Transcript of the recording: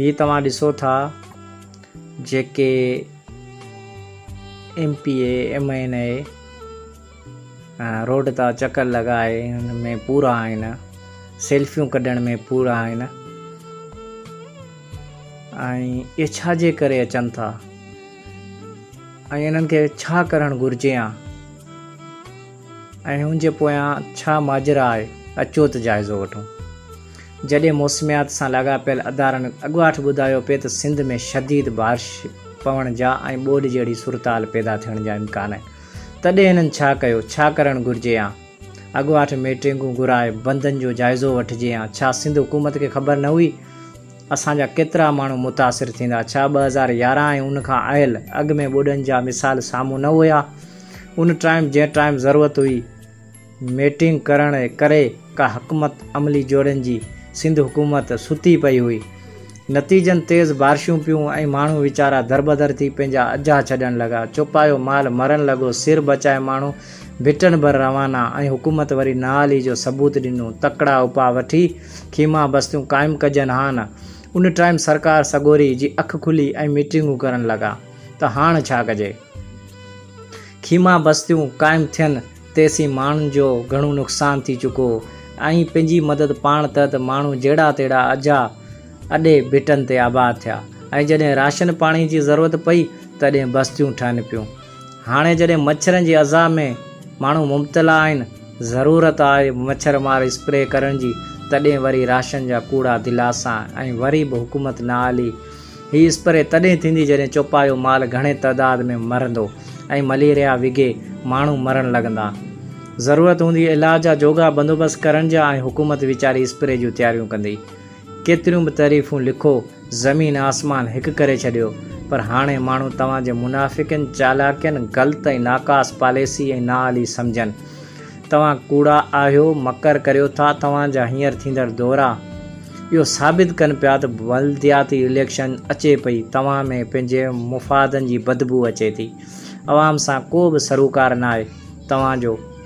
هي توهان ڏسو ٿا جيڪي M P A M N A road تان چڪر لڳائي ان ۾ پورا آهن سيلفيون ڪڍڻ ۾ پورا آهن ۽ اهي ڇا جي ڪري اچن ٿا ۽ انهن کي ڇا ڪرڻ گهرجي ها ۽ ان جي پويان ڇا ماجرا آهي اچو ته جائزو وٺون. جڏهن موسميات سان لاڳاپيل ادارن اڳواٽ ٻڌايو پئي ته سنڌ ۾ شديد بارش پوڻ جا ۽ ٻوڏ جهڙي صورتحال پيدا ٿيڻ جا امڪان آهن تڏهن هنن ڇا ڪيو ڇا ڪرڻ گهرجي يا اڳواٽ ميٽرنگون گهرائي بندن جو جائزو وٺجي يا ڇا سنڌ حڪومت کي خبر نه هئي اسان جا ڪيترا ماڻهو متاثر ٿيندا؟ ڇا ٻه هزار يارهن ۽ ان کان اهل اڳ ۾ ٻوڏن جا مثال سامهون نه هيا؟ ان ٽائيم جنهن ٽائيم ضرورت هئي ميٽنگ ڪرڻ ڪري ڪا حڪمت عملي جوڙڻ جي، سنڌ حڪومت ستي پئي هئي. نتيجن تيز بارشون پيون ۽ ماڻهو ويچارا دربدر ٿي پنهنجا اجها ڇڏڻ لڳا. چوپايو مال مرڻ لڳو، سر بچائي ماڻهو ڀٽن ڀر روانا ۽ حڪومت وري نااهلي جو ثبوت ڏنو. تڪڙا اپاء وٺي. خيما بستيون قائم ڪجن ها نه. ان ٽائيم سرڪار سڳوري جي اک کلي ۽ ميٽنگون ڪرڻ لڳا ته هاڻ ڇا ڪجي. خيما بستيون قائم ٿين تيسين ماڻهن جو گهڻو نقصان ٿي چڪو هو ۽ پنهنجي مدد پاڻ تحت ماڻهو جهڙا تهڙا اجها اڏي ڀٽن تي آباد ٿيا ۽ جڏهن راشن پاڻي جي ضرورت پئي تڏهن بستيون ٺهن پيون. هاڻي جڏهن مڇرن جي اذيٰ ۾ ماڻهو مبتلا آهن، ضرورت آهي مڇر مار اسپري ڪرڻ جي، تڏهن وري راشن جا ڪوڙا دلاسا ۽ وري به حڪومت نه آلي. هي اسپري تڏهن ٿيندي جڏهن چوپايو مال گهڻي تعداد ۾ مرندو ۽ مليريا وگهي ماڻهو مرڻ لڳندا. ضرورت هوندي علاج جا جوڳا بندوبست ڪرڻ جا ۽ حڪومت ويچاري اسپري جون تياريون ڪندي. ڪيتريون به تعريفون لکو زمين آسمان هڪ ڪري ڇڏيو پر هاڻي ماڻهو توهان جي منافقين چالاڪين غلط ۽ ناقاص پاليسي ۽ نااهلي سمجهن توهان ڪوڙا آهيو مڪر ڪريو ٿا توهان جا هينئر ٿيندڙ دورا اهو ثابت ڪن پيا ته بلدياتي اليڪشن اچي پئي توهان ۾ پنهنجي مفادن جي بدبو اچي ٿي عوام سان ڪو به سروڪار ناهي توهان جو